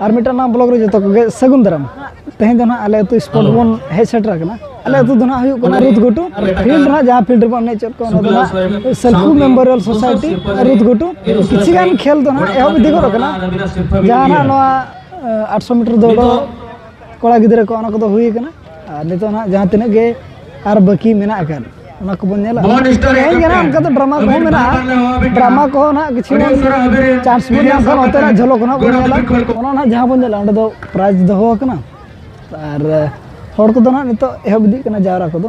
ᱟᱨ ᱢᱤᱫᱴᱟᱝ ᱱᱟᱜ ᱵᱞᱚᱜ ᱨᱮ ᱡᱚᱛᱚ ᱠᱚᱜᱮ ᱥᱟᱹᱜᱩᱱ ᱫᱟᱨᱟᱢ ᱛᱮᱦᱮᱧ ᱫᱚ ᱱᱟᱜ ᱟᱞᱮ ᱟᱹᱛᱩ ᱥᱯᱚᱴ ᱵᱚᱱ ᱦᱮᱡ ᱥᱮᱴᱮᱨ ᱟᱠᱟᱱᱟ ᱟᱞᱮ ᱟᱹᱛᱩ ᱫᱚ ᱱᱟᱜ ᱦᱩᱭᱩᱜ ᱠᱟᱱᱟ ᱨᱩᱛ ᱜᱷᱩᱴᱩ ᱯᱷᱤᱞᱰ ᱱᱟᱜ ᱡᱟᱦᱟᱸ ᱯᱷᱤᱞᱰ ᱨᱮᱵᱚᱱ ᱮᱱᱮᱡ ᱪᱮᱫ ᱠᱚ ᱚᱱᱟ ᱫᱚ ᱱᱟᱜ ᱥᱮᱞᱯᱷᱩ ᱢᱮᱢᱳᱨᱤᱭᱟᱞ ᱥᱳᱥᱟᱭᱴᱤ ᱨᱩᱛ ᱜᱷᱩᱴᱩ ᱠᱤᱪᱷᱩ ᱜᱟᱱ ᱠᱷᱮᱞ ᱫᱚ ᱱᱟᱜ ᱮᱦᱚᱵ ᱤᱫᱤ ᱜᱚᱫ ᱟᱠᱟᱱᱟ ᱡᱟᱦᱟᱸ ᱱᱟᱜ ᱱᱚᱣᱟ ᱟᱴᱥᱚ ᱢᱤᱴᱟᱨ ᱫᱟᱹᱲ ᱫᱚ ᱠᱚᱲᱟ ᱜᱤᱫᱽᱨᱟᱹ ᱠᱚ ᱚᱱᱟ ᱠᱚᱫᱚ ᱦᱩᱭ ᱟᱠᱟᱱᱟ ᱟᱨ ᱱᱤᱛᱚᱜ ᱱᱟᱦᱟᱜ ᱡᱟᱦᱟᱸ ᱛᱤᱱᱟᱹᱜ ᱜᱮ ᱟᱨ ᱵᱟᱹᱠᱤ ᱢᱮᱱᱟᱜ ᱟᱠᱟᱫ ᱚᱱᱟ ᱠᱚᱵᱚᱱ ᱧᱮᱞᱟ ᱦᱳᱭ ᱠᱟᱱᱟ ᱚᱱᱠᱟ ᱫᱚ ᱰᱨᱟᱢᱟ ᱠᱚᱦᱚᱸ ᱢᱮᱱᱟᱜᱼᱟ ᱰᱨᱟᱢᱟ ᱠᱚᱦᱚᱸ ᱱᱟᱦᱟᱜ ᱠᱤᱪᱷᱩ ᱵᱚᱱ ᱪᱟᱱᱥ ᱵᱚᱱ ᱧᱟᱢ ᱠᱷᱟᱱ ᱚᱱᱛᱮᱱᱟᱜ ᱡᱷᱚᱞᱚᱠ ᱱᱟᱦᱟᱜ ᱵᱚᱱ ᱧᱮᱞᱟ ᱚᱱᱟ ᱱᱟᱦᱟᱜ ᱡᱟᱦᱟᱸ ᱵᱚᱱ ᱧᱮᱞᱟ ᱚᱸᱰᱮ ᱫᱚ ᱯᱨᱟᱭᱤᱡᱽ ᱫᱚᱦᱚ ᱟᱠᱟᱱᱟ ᱟᱨ ᱦᱚᱲ ᱠᱚᱫᱚ ᱱᱟᱦᱟᱜ ᱱᱤᱛᱚᱜ ᱮᱦᱚᱵ ᱤᱫᱤᱜ ᱠᱟᱱᱟ ᱡᱟᱣᱨᱟ ᱠᱚᱫᱚ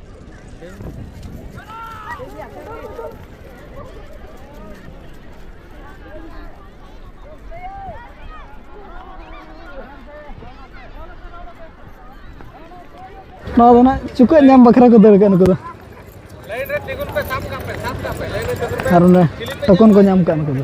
ᱱᱚᱣᱟ ᱫᱚ ᱱᱟᱜ ᱪᱩᱠᱟᱹᱜ ᱧᱟᱢ ᱵᱟᱠᱷᱨᱟ ᱠᱚ ᱫᱟᱹᱲ ᱠᱟᱜᱼᱟ ᱱᱩᱠᱩ ᱫᱚ ᱟᱨ ᱚᱱᱮ ᱴᱚᱠᱚᱱ ᱠᱚ ᱧᱟᱢ ᱠᱟᱜᱼᱟ ᱱᱩᱠᱩ ᱫᱚ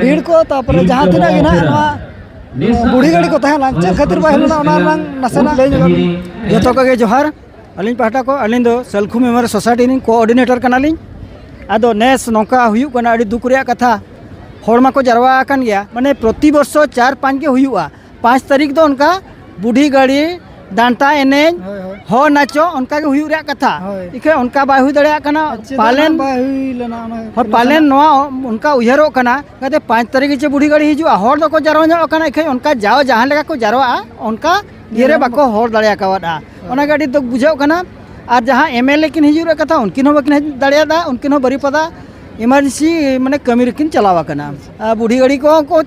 ᱵᱷᱤᱲ ᱠᱚ ᱛᱟᱨᱯᱚᱨᱮ ᱡᱟᱦᱟᱸ ᱛᱤᱱᱟᱹᱜ ᱜᱮ ᱱᱟᱦᱟᱜ ᱱᱚᱣᱟ ᱵᱩᱲᱦᱤ ᱜᱟᱹᱰᱤ ᱠᱚ ᱛᱟᱦᱮᱸ ᱞᱮᱱᱟ ᱪᱮᱫ ᱠᱷᱟᱹᱛᱤᱨ ᱵᱟᱭ ᱦᱮᱡ ᱞᱮᱱᱟ ᱚᱱᱟ ᱨᱮᱱᱟᱜ ᱱᱟᱥᱮᱱᱟᱜ ᱞᱟᱹᱭ ᱧᱚᱜ ᱵᱤᱱ ᱡᱚᱛᱚ ᱠᱚᱜᱮ ᱡᱚᱦᱟᱨ ᱟᱹᱞᱤᱧ ᱯᱟᱦᱴᱟ ᱠᱷᱚᱱ ᱟᱹᱞᱤᱧ ᱫᱚ ᱥᱟᱹᱞᱠᱷᱩ ᱢᱮᱢᱳᱨᱤᱭᱟᱞ ᱥᱳᱥᱟᱭᱴᱤ ᱨᱮᱱ ᱠᱳᱚᱨᱰᱤᱱᱮᱴᱚᱨ ᱠᱟᱱᱟᱞᱤᱧ ᱟᱫᱚ ᱱᱮᱥ ᱱᱚᱝᱠᱟ ᱦᱩᱭᱩᱜ ᱠᱟᱱᱟ ᱟᱹᱰᱤ ᱫᱩᱠ ᱨᱮᱭᱟᱜ ᱠᱟᱛᱷᱟ ᱦᱚᱲ ᱢᱟᱠᱚ ᱡᱟᱨᱣᱟ ᱟᱠᱟᱱ ᱜᱮᱭᱟ ᱢᱟᱱᱮ ᱯᱨᱚᱛᱤ ᱵᱚᱨᱥᱚ ᱪᱟᱨ ᱯᱟᱸᱪ ᱜᱮ ᱦᱩᱭᱩᱜᱼᱟ ᱯᱟᱸᱪ ᱛᱟᱹᱨᱤᱠᱷ ᱫᱚ ᱚᱱᱠᱟ ᱵᱩᱰᱷᱤ ᱜᱟᱹᱲᱤ ᱰᱟᱱᱴᱟ ᱮᱱᱮᱡ ᱦᱚ ᱱᱟᱪᱚ ᱚᱱᱠᱟ ᱜᱮ ᱦᱩᱭᱩᱜ ᱨᱮᱭᱟᱜ ᱠᱟᱛᱷᱟ ᱤᱠᱷᱟᱹᱱ ᱚᱱᱠᱟ ᱵᱟᱭ ᱦᱩᱭ ᱫᱟᱲᱮᱭᱟᱜ ᱠᱟᱱᱟ ᱯᱟᱞᱮᱱ ᱦᱚᱸ ᱯᱟᱞᱮᱱ ᱱᱚᱣᱟ ᱚᱱᱠᱟ ᱩᱭᱦᱟᱹᱨᱚᱜ ᱠᱟᱱᱟ ᱡᱟᱛᱮ ᱯᱟᱸᱪ ᱛᱟᱹᱨᱤᱠᱷ ᱜᱮᱪᱮ ᱵᱩᱰᱷᱤ ᱜᱟᱹᱲᱤ ᱦᱤᱡᱩᱜᱼᱟ ᱦᱚᱲ ᱫᱚᱠᱚ ᱡᱟᱨᱣᱟ ᱧᱚᱜ ᱟᱠᱟᱱᱟ ᱤᱠᱷᱟᱹᱱ ᱚᱱᱠᱟ ᱡᱟᱣ ᱡᱟᱦᱟᱸ ᱞᱮᱠᱟ ᱠᱚ ᱡᱟᱨᱣᱟᱜᱼᱟ ᱚᱱᱠᱟ ᱤᱭᱟᱹᱨᱮ ᱵᱟᱠᱚ ᱦᱚᱲ ᱫᱟᱲᱮ ᱟᱠᱟᱣᱟᱫᱼᱟ ᱚᱱᱟᱜᱮ ᱟᱹᱰᱤ ᱫᱩᱠ ᱵᱩᱡᱷᱟᱹᱜ ᱠᱟᱱᱟ ᱟᱨ ᱡᱟᱦᱟᱸ ᱮᱢ ᱮᱞ ᱮ ᱠᱤᱱ ᱦᱤᱡᱩᱜ ᱨᱮᱭᱟᱜ ᱠᱟᱛᱷᱟ ᱩᱱᱠᱤᱱ ᱦᱚᱸ ᱵᱟᱹᱠᱤᱱ ᱦᱮᱡ ᱫᱟᱲᱮᱭᱟᱫᱟ ᱩᱱᱠᱤᱱ ᱦᱚᱸ ᱵᱟᱹᱨᱤᱯᱟᱫᱟ ᱮᱢᱟᱨᱡᱮᱱᱥᱤ ᱢᱟᱱᱮ ᱠᱟᱹᱢᱤ ᱨᱮᱠᱤᱱ ᱪᱟᱞᱟᱣ ᱟᱠᱟᱱᱟ ᱵᱩᱰᱷᱤ ᱜᱟᱹᱲᱤ ᱠᱚᱦᱚᱸ ᱠᱚ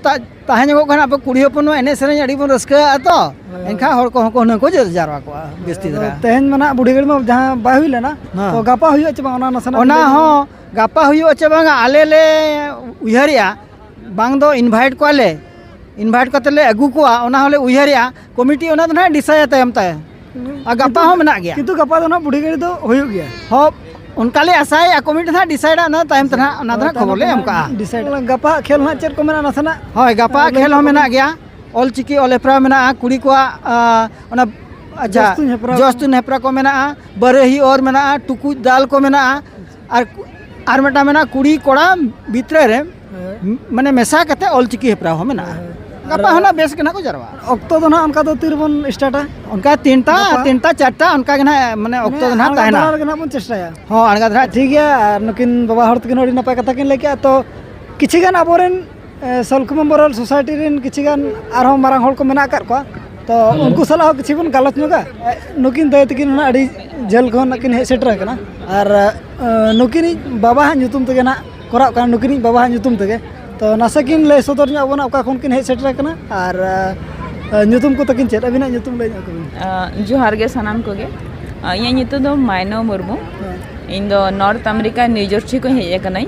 ᱛᱟᱦᱮᱸ ᱧᱚᱜᱚᱜ ᱠᱟᱱᱟ ᱟᱵᱚ ᱠᱩᱲᱤ ᱦᱚᱯᱚᱱ ᱮᱱᱮᱡ ᱥᱮᱨᱮᱧ ᱟᱹᱰᱤ ᱵᱚᱱ ᱨᱟᱹᱥᱠᱟᱹᱜᱼᱟ ᱛᱚ ᱮᱱᱠᱷᱟᱱ ᱦᱚᱲ ᱠᱚᱦᱚᱸ ᱠᱚ ᱦᱩᱱᱟᱹᱝ ᱠᱚ ᱡᱟᱨᱣᱟ ᱠᱚᱜᱼᱟ ᱡᱟᱹᱥᱛᱤ ᱫᱷᱟᱨᱟ ᱛᱮᱦᱮᱧ ᱢᱟ ᱱᱟᱜ ᱵᱩᱰᱷᱤ ᱜᱟᱹᱲᱤ ᱢᱟ ᱡᱟᱦᱟᱸ ᱵᱟᱭ ᱦᱩᱭ ᱞᱮᱱᱟ ᱛᱚ ᱜᱟᱯᱟ ᱦᱩᱭᱩᱜᱼᱟ ᱪᱮ ᱵᱟᱝ ᱚᱱᱟ ᱱᱟᱥᱮᱱᱟᱜ ᱚᱱᱟ ᱦᱚᱸ ᱜᱟᱯᱟ ᱦᱩᱭᱩᱜᱼᱟ ᱪᱮ ᱵᱟᱝ ᱟᱞᱮ ᱞᱮ ᱩᱭᱦᱟᱹᱨᱮᱜᱼᱟ ᱵᱟᱝ ᱫᱚ ᱤᱱᱵᱷᱟᱭᱤᱴ ᱠᱚᱣᱟᱞᱮ ᱤᱱᱵᱷᱟᱭᱤᱴ ᱠᱟᱛᱮᱫ ᱞᱮ ᱟᱹᱜᱩ ᱠᱚᱣᱟ ᱚᱱᱟ ᱦᱚᱸᱞᱮ ᱩᱭᱦᱟᱹᱨᱮᱜᱼᱟ ᱠᱚᱢᱤᱴᱤ ᱚᱱᱟ ᱫᱚ ᱱᱟᱦᱟᱜ ᱰᱤᱥᱟᱭᱟ ᱛᱟᱭᱚᱢ ᱛᱟᱭ ᱟᱨ ᱜᱟᱯᱟ ᱦᱚᱸ ᱢᱮᱱᱟᱜ ᱜᱮᱭᱟ ᱠᱤᱱᱛᱩ ᱜᱟᱯᱟ ᱫᱚ ᱱᱟᱦᱟᱜ ᱵᱩᱰᱷᱤ ᱜᱟᱹᱲᱤ ᱫᱚ ᱦᱩᱭᱩᱜ ᱜᱮᱭᱟ ᱦᱚᱸ ᱚᱱᱠᱟ ᱞᱮ ᱟᱥᱟᱭᱮᱜᱼᱟ ᱠᱚᱢᱤᱴᱤ ᱱᱟᱦᱟᱜ ᱰᱤᱥᱟᱭᱤᱰᱟ ᱚᱱᱟ ᱛᱟᱭᱚᱢ ᱛᱮ ᱱᱟᱦᱟᱜ ᱚᱱᱟ ᱫᱚ ᱱᱟᱦᱟᱜ ᱠᱷᱚᱵᱚᱨ ᱞᱮ ᱮᱢ ᱠᱟᱜᱼᱟ ᱰᱤᱥᱟᱭᱤᱰ ᱜᱟᱯᱟ ᱠᱷᱮᱞ ᱱᱟᱦᱟᱜ ᱪᱮᱫ ᱠᱚ ᱢᱮᱱᱟᱜᱼᱟ ᱱᱟᱥᱮᱱᱟᱜ ᱦᱳᱭ ᱜᱟᱯᱟ ᱠᱷᱮᱞ ᱦᱚᱸ ᱢᱮᱱᱟᱜ ᱜᱮᱭᱟ ᱚᱞ ᱪᱤᱠᱤ ᱚᱞ ᱦᱮᱯᱨᱟᱣ ᱢᱮᱱᱟᱜᱼᱟ ᱠᱩᱲᱤ ᱠᱚᱣᱟᱜ ᱚᱱᱟ ᱟᱪᱪᱷᱟ ᱡᱚᱥ ᱛᱩᱧ ᱦᱮᱯᱨᱟᱣ ᱠᱚ ᱢᱮᱱᱟᱜᱼᱟ ᱵᱟᱹᱨᱟᱹᱦᱤ ᱚᱨ ᱢᱮᱱᱟᱜᱼᱟ ᱴᱩᱠᱩᱡ ᱫᱟᱞ ᱠᱚ ᱢᱮᱱᱟᱜᱼᱟ ᱟᱨ ᱟᱨ ᱢᱤᱫᱴᱟᱝ ᱢᱮᱱᱟᱜᱼᱟ ᱠᱩᱲᱤ ᱠᱚᱲᱟ ᱵᱷᱤᱛᱨᱤ ᱨᱮ ᱢᱟᱱᱮ ᱢᱮᱥᱟ ᱠᱟᱛᱮ ᱚᱞᱪᱤᱠᱤ ᱦᱮᱯᱨᱟᱣ ᱦᱚᱸ ᱢᱮᱱᱟᱜᱼᱟ ᱜᱟᱯᱟ ᱦᱚᱸ ᱱᱟᱜ ᱵᱮᱥ ᱜᱮ ᱱᱟᱜ ᱠᱚ ᱡᱟᱨᱣᱟᱜᱼᱟ ᱚᱠᱛᱚ ᱫᱚ ᱱᱟᱜ ᱚᱱᱠᱟ ᱫᱚ ᱛᱤ ᱨᱮᱵᱚᱱ ᱥᱴᱟᱨᱴᱟ ᱚᱱᱠᱟ ᱛᱤᱱᱴᱟ ᱛᱤᱱᱴᱟ ᱪᱟᱨᱴᱟ ᱚᱱᱠᱟ ᱜᱮ ᱱᱟᱜ ᱢᱟᱱᱮ ᱚᱠᱛᱚ ᱫᱚ ᱱᱟᱜ ᱛᱟᱦᱮᱱᱟ ᱟᱬᱜᱟ ᱨᱮᱜᱮ ᱱᱟᱜ ᱵᱚᱱ ᱪᱮᱥᱴᱟᱭᱟ ᱦᱚᱸ ᱟᱬᱜᱟ ᱫᱷᱟᱨᱟ ᱴᱷᱤᱠ ᱜᱮᱭᱟ ᱟᱨ ᱱᱩᱠᱤᱱ ᱵᱟᱵᱟ ᱦᱚᱲ ᱛᱟᱹᱠᱤᱱ ᱦᱚᱸ ᱟᱹᱰᱤ ᱱᱟᱯᱟᱭ ᱠᱟᱛᱷᱟ ᱠᱤᱱ ᱞᱟᱹᱭ ᱠᱮᱜᱼᱟ ᱛᱚ ᱠᱤᱪᱷᱩ ᱜᱟᱱ ᱟᱵᱚ ᱨᱮᱱ ᱥᱚᱞᱠᱷ ᱢᱮᱢᱳᱨᱤᱭᱟᱞ ᱥᱳᱥᱟᱭᱴᱤ ᱨᱮᱱ ᱠᱤᱪᱷᱩ ᱜᱟᱱ ᱟᱨᱦᱚᱸ ᱢᱟᱨᱟᱝ ᱦᱚᱲ ᱠᱚ ᱢᱮᱱᱟᱜ ᱟᱠᱟᱫ ᱠᱚᱣᱟ ᱛᱚ ᱩᱱᱠᱩ ᱥᱟᱞᱟᱜ ᱦᱚᱸ ᱠᱤᱪᱷᱩ ᱵᱚᱱ ᱜᱟᱞᱚᱪ ᱧᱚᱜᱟ ᱱᱩᱠᱤᱱ ᱫᱟᱹᱭ ᱛᱟᱹᱠᱤᱱ ᱦᱚᱸ ᱟᱹᱰᱤ ᱡᱷᱟᱹᱞ ᱠᱷᱚᱱ ᱱᱟᱦᱟᱜ ᱠᱤᱱ ᱦᱮᱡ ᱥᱮᱴᱮᱨ ᱟᱠᱟᱱᱟ ᱟᱨ ᱱᱩᱠᱤᱱᱤᱡ ᱵᱟᱵᱟᱣᱟᱜ ᱧᱩᱛᱩᱢ ᱛᱮᱜᱮ ᱱᱟᱦᱟᱜ ᱠᱚᱨᱟᱜ ᱠᱟᱱᱟ ᱱᱩᱠᱤᱱᱤᱡ ᱵᱟᱵᱟᱣᱟᱜ ᱧᱩᱛᱩᱢ ᱛᱮᱜᱮ ᱛᱚ ᱱᱟᱥᱮ ᱠᱤᱱ ᱞᱟᱹᱭ ᱥᱚᱫᱚᱨ ᱧᱚᱜ ᱟᱵᱚᱱᱟ ᱚᱠᱟ ᱠᱷᱚᱱ ᱠᱤᱱ ᱦᱮᱡ ᱥᱮᱴᱮᱨ ᱟᱠᱟᱱᱟ ᱟᱨ ᱧᱩᱛᱩᱢ ᱠᱚ ᱛᱟᱹᱠᱤᱱ ᱪᱮᱫ ᱟᱹᱵᱤᱱᱟᱜ ᱧᱩᱛᱩᱢ ᱞᱟᱹᱭ ᱧᱚᱜ ᱛᱟᱹᱵᱤᱱ ᱡᱚᱦᱟᱨ ᱜᱮ ᱥᱟᱱᱟᱢ ᱠᱚᱜᱮ ᱤᱧᱟᱹᱜ ᱧᱩᱛᱩᱢ ᱫᱚ ᱢᱟᱭᱱᱚ ᱢᱩᱨᱢᱩ ᱤᱧ ᱫᱚ ᱱᱚᱨᱛᱷ ᱟᱢᱮᱨᱤᱠᱟ ᱱᱤᱭᱩ ᱡᱟᱨᱥᱤ ᱠᱷᱚᱱ ᱦᱮᱡ ᱟᱠᱟᱱᱟᱹᱧ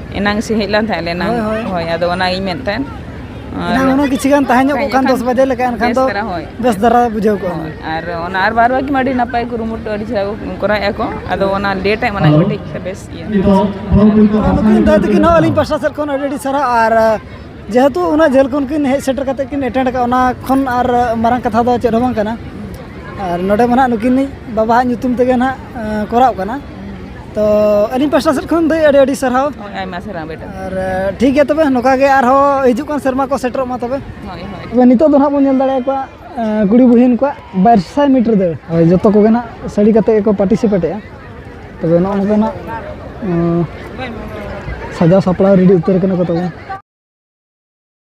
ᱮᱱᱟᱝ ᱥᱮ ᱦᱮᱡ ᱞᱮᱱ ᱛᱟᱦᱮᱸᱫ ᱞᱮ ᱮᱱᱟᱝ ᱦᱳᱭ, ᱦᱳᱭ᱾ ᱦᱳᱭ ᱟᱫᱚ ᱚᱱᱟ ᱤᱧ ᱢᱮᱱᱮᱫ ᱛᱟᱦᱮᱸᱫ ᱟᱨ- ᱮᱱᱟᱝ ᱦᱩᱱᱟᱹᱝ ᱠᱤᱪᱷᱩ ᱜᱟᱱ ᱛᱟᱦᱮᱸ ᱧᱚᱜ ᱠᱚᱜ ᱠᱷᱟᱱ ᱫᱚᱥ ᱵᱟᱡᱮ ᱞᱮᱠᱟ ᱮᱱᱠᱷᱟᱱ ᱵᱮᱥ ᱫᱚ ᱫᱷᱟᱨᱟ ᱦᱳᱭ ᱵᱮᱥ ᱫᱷᱟᱨᱟ ᱵᱩᱡᱷᱟᱹᱣ ᱠᱚᱜᱼᱟ ᱦᱳᱭ, ᱟᱨ ᱚᱱᱟ ᱟᱨ ᱵᱟᱨ ᱵᱟᱨ ᱜᱮ ᱟᱹᱰᱤ ᱱᱟᱯᱟᱭ ᱠᱩᱨᱩᱢᱩᱴᱩ ᱟᱹᱰᱤ ᱪᱮᱦᱨᱟ ᱠᱚ ᱠᱚᱨᱟᱣᱮᱫᱼᱟ ᱠᱚ ᱟᱫᱚ ᱚᱱᱟ ᱞᱮᱴ ᱟᱜ ᱢᱟᱱᱮ ᱠᱟᱹᱴᱤᱡ ᱛᱮ ᱵᱮᱥ ᱤᱭᱟᱹ ᱱᱩᱠᱤᱱ ᱫᱟᱫᱟ ᱛᱟᱹᱠᱤᱱ ᱦᱚᱸ ᱟᱹᱞᱤᱧ ᱯᱟᱥᱴᱟ ᱥᱮᱫ ᱠᱷᱚᱱ ᱟᱹᱰᱤ ᱟᱹᱰᱤ ᱥᱟᱨᱦᱟᱣ ᱟᱨ ᱟᱹ, ᱡᱮᱦᱮᱛᱩ ᱩᱱᱟᱹᱜ ᱡᱷᱟᱹᱞ ᱠᱷᱚᱱ ᱠᱤᱱ ᱦᱮᱡ ᱥᱮᱴᱮᱨ ᱠᱟᱛᱮ ᱠᱤᱱ ᱮᱴᱮᱱᱰ ᱟᱠᱟᱫ ᱚᱱᱟ ᱠᱷᱚᱱ ᱟᱨ ᱟᱹ, ᱢᱟᱨᱟᱝ ᱠᱟᱛᱷᱟ ᱫᱚ ᱪᱮᱫ ᱦᱚᱸ ᱵᱟᱝ ᱠᱟᱱᱟ ᱟᱨ ᱱᱚᱰᱮ ᱢᱟ ᱱᱟᱦᱟᱜ ᱱᱩᱠᱤᱱᱤᱡ ᱵᱟᱵᱟᱣᱟᱜ ᱧᱩᱛᱩᱢ ᱛᱮᱜᱮ ᱱᱟᱦᱟᱜ ᱟᱹ, ᱠᱚᱨᱟᱣ ᱠᱟᱱᱟ ᱛᱚ ᱟᱹᱞᱤᱧ ᱯᱟᱥᱴᱟ ᱥᱮᱫ ᱠᱷᱚᱱ ᱫᱚ ᱟᱹᱰᱤ ᱟᱹᱰᱤ ᱥᱟᱨᱦᱟᱣ ᱦᱳᱭ ᱟᱭᱢᱟ ᱥᱟᱨᱦᱟᱣ ᱵᱮᱴᱟ ᱟᱨ ᱴᱷᱤᱠ ᱜᱮᱭᱟ ᱛᱚᱵᱮ ᱱᱚᱝᱠᱟ ᱜᱮ ᱟᱨᱦᱚᱸ ᱦᱤᱡᱩᱜ ᱠᱟᱱ ᱥᱮᱨᱢᱟ ᱠᱚ ᱥᱮᱴᱮᱨᱚᱜ ᱢᱟ ᱛᱚᱵᱮ ᱦᱳᱭ ᱦᱳᱭ ᱛᱚᱵᱮ ᱱᱤᱛᱚᱜ ᱫᱚ ᱱᱟᱦᱟᱜ ᱵᱚᱱ ᱧᱮᱞ ᱫᱟᱲᱮᱭᱟ ᱠᱚᱣᱟ ᱟᱸ, ᱠᱩᱲᱤ ᱵᱩᱦᱤᱱ ᱠᱚᱣᱟᱜ ᱵᱟᱨ ᱥᱟᱭ ᱢᱤᱴᱟᱨ ᱫᱟᱹᱲ ᱦᱳᱭ ᱡᱚᱛᱚ ᱠᱚᱜᱮ ᱱᱟᱦᱟᱜ ᱥᱟᱹᱲᱤ ᱠᱟᱛᱮ ᱜᱮᱠᱚ ᱯᱟᱨᱴᱤᱥᱤᱯᱮᱴᱮᱜᱼᱟ ᱛᱚᱵᱮ ᱱᱚᱜᱼᱚ ᱱᱚᱝᱠᱟ ᱱᱟᱦᱟᱜ ᱟᱸ, ᱥᱟᱡᱟᱣ ᱥᱟᱯᱲᱟᱣ ᱨᱮᱰᱤ ᱩᱛᱟᱹᱨ ᱠᱟᱱᱟ ᱠᱚ ᱛᱚᱵᱮ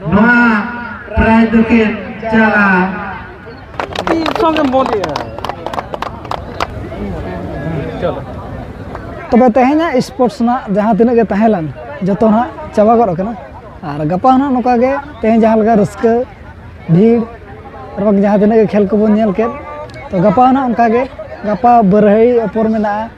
ᱱᱚᱣᱟ ᱯᱨᱟᱭ ᱫᱚᱠᱤᱱ ᱪᱟᱞᱟ ᱛᱚᱵᱮ ᱛᱮᱦᱮᱧᱟᱜ ᱥᱯᱳᱨᱴᱥ ᱨᱮᱱᱟᱜ ᱡᱟᱦᱟᱸ ᱛᱤᱱᱟᱹᱜ ᱜᱮ ᱛᱟᱦᱮᱸ ᱞᱮᱱ ᱡᱚᱛᱚ ᱱᱟᱜ ᱪᱟᱵᱟ ᱜᱚᱫ ᱟᱠᱟᱱᱟ ᱟᱨ ᱜᱟᱯᱟ ᱦᱚᱸ ᱱᱚᱝᱠᱟ ᱜᱮ ᱛᱮᱦᱮᱧ ᱡᱟᱦᱟᱸ ᱞᱮᱠᱟ ᱨᱟᱹᱥᱠᱟᱹ ᱵᱷᱤᱲ ᱟᱨ ᱵᱟᱝ ᱡᱟᱦᱟᱸ ᱛᱤᱱᱟᱹᱜ ᱜᱮ ᱠᱷᱮᱞ ᱠᱚᱵᱚᱱ ᱧᱮᱞ ᱠᱮᱫ ᱛᱚ ᱜᱟᱯᱟ ᱦᱚᱸ ᱱᱟᱜ ᱚᱱᱠᱟ ᱜᱮ ᱜᱟᱯᱟ ᱵᱟᱹᱨᱟᱹᱦᱟᱹᱲᱤ ᱚᱯᱚᱨ ᱢᱮᱱᱟᱜᱼᱟ